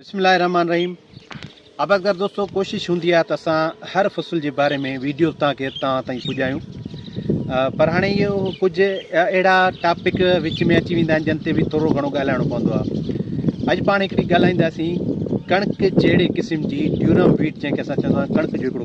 بسم الله الرحمن الرحيم آبادگار دوستو ڪوشش هوندي آهي ته اسان هر فصل جي باري ۾ ويڊيو تان کي تان تائين پڄايون پر هاڻي اهو ڪجهه اهڙا ٽاپڪ وچ ۾ اچي ويندا آهن جن تي به ٿورو گهڻو ڳالهائڻو پوندو آهي اڄ پاڻ هڪڙي ڳالهائينداسين ڪڻڪ جهڙي قسم جي ڊيورم ويٽ جنهن کي اسان چوندا آهيون ڪڻڪ جو هڪڙو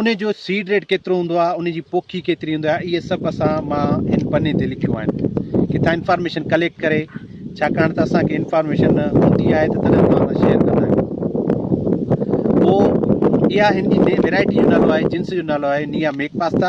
ان جو سيڊ ريٽ ڪيترو هوندو آهي، ان جي پوکي ڪيتري هوندي آهي اهي سڀ اسان مان هن پني تي لکيون آهن. ڪٿان انفارميشن ڪليڪٽ ڪري ڇاڪاڻ ته اسان کي انفارميشن هوندي آهي ته تڏهن توهان سان شيئر ڪندا آهيون. پوء اها هن جي ويرائٽي جو نالو آهي، جنس جو نالو آهي نيا ميڪ پاستا.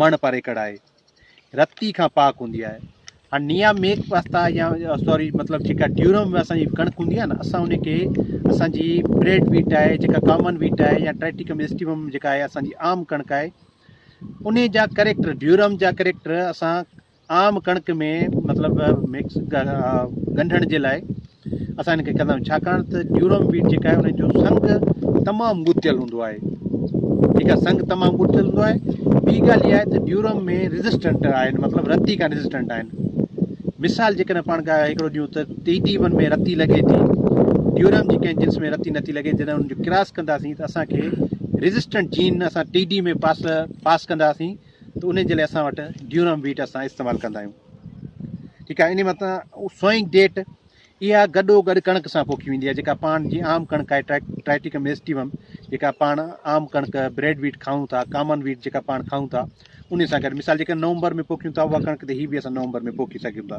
مڻ پر ايڪڙ آهي. رتي کان پاڪ هوندي آهي. هاڻ نيا ميڪ پاستا يا سوري مطلب جيڪا ڊيورم اسان جي ڪڻڪ هوندي آهي نه اسان ان کي اسان جي بريڊ ويٽ آهي جيڪا ڪامن ويٽ آهي يا ٽريٽيڪم اسٽيوم جيڪا آهي اسان جي عام ڪڻڪ آهي ان جا ڪريڪٽر ڊيورم جا ڪريڪٽر اسان عام ڪڻڪ ۾ مطلب مڪس ڳنڍڻ جي لاء اسان هن کي ڪندا آهيون ڇاڪاڻ ته جيورم ويٽ جيڪا آهي ان جو سنگ تمام ڳتيل هوندو آهي ٺيڪ آهي سنگ تمام ڳتيل هوندو آهي ٻي ڳالهه اها آهي ته جيورم ۾ ريزسٽنٽ آهن مطلب رتي کان ريزسٽنٽ آهن مثال جيڪڏهن پاڻ کان هڪڙو ڏيون ته ٽي ٽي ون ۾ رتي لڳي ٿي جيورم جي ڪنهن جنس ۾ رتي نٿي لڳي جڏهن ان جو ڪراس ڪنداسين ته اسانکي ريزسٽنٽ جين اسان ٽي ڊي ۾ پاس پاس ڪنداسين ته انهي جي لاء اسان وٽ ڊيورم ويٽ اسان استعمال ڪندا آهيون ٺيڪ آهي انهي مٿان سوئنگ ڊيٽ اها گڏو گڏ ڪڻڪ سان پوکي ويندي آهي جيڪا پاڻ جي عام ڪڻڪ آهي ٽرائيٽيڪم ايسٽيوم جيڪا پاڻ عام ڪڻڪ بريڊ ويٽ کائون ٿا ڪامن ويٽ جيڪا پاڻ کائون ٿا ان سان گڏ مثال جيڪا نومبر ۾ پوکيون ٿا اها ڪڻڪ تي هي به اسان نومبر ۾ پوکي سگهون ٿا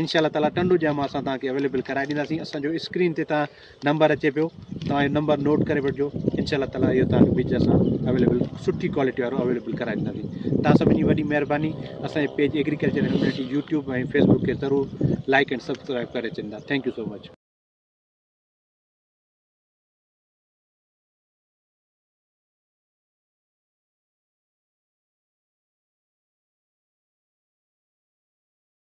انشاء الله تعالٰي ٽنڊو ڄام اسان توهان کي اويليبل ڪرائي ڏينداسين اسان جو اسڪرين تي توهان نمبر اچي پيو توهان اهو نمبر نوٽ ڪري وٺجو انشاء الله تعالٰي اهو توهان کي ٻج اسان اویليبل سٺي ڪوالٽي وارو اویليبل ڪرائي ڏينداسين توهان سڀني جي وڏي مهرباني اسانجي page agriculture and community YouTube ۽ Facebook کي ضرور لائڪ اينڊ سبسڪرائب ڪري ڇڏيندا ٿينڪ يو سو مچ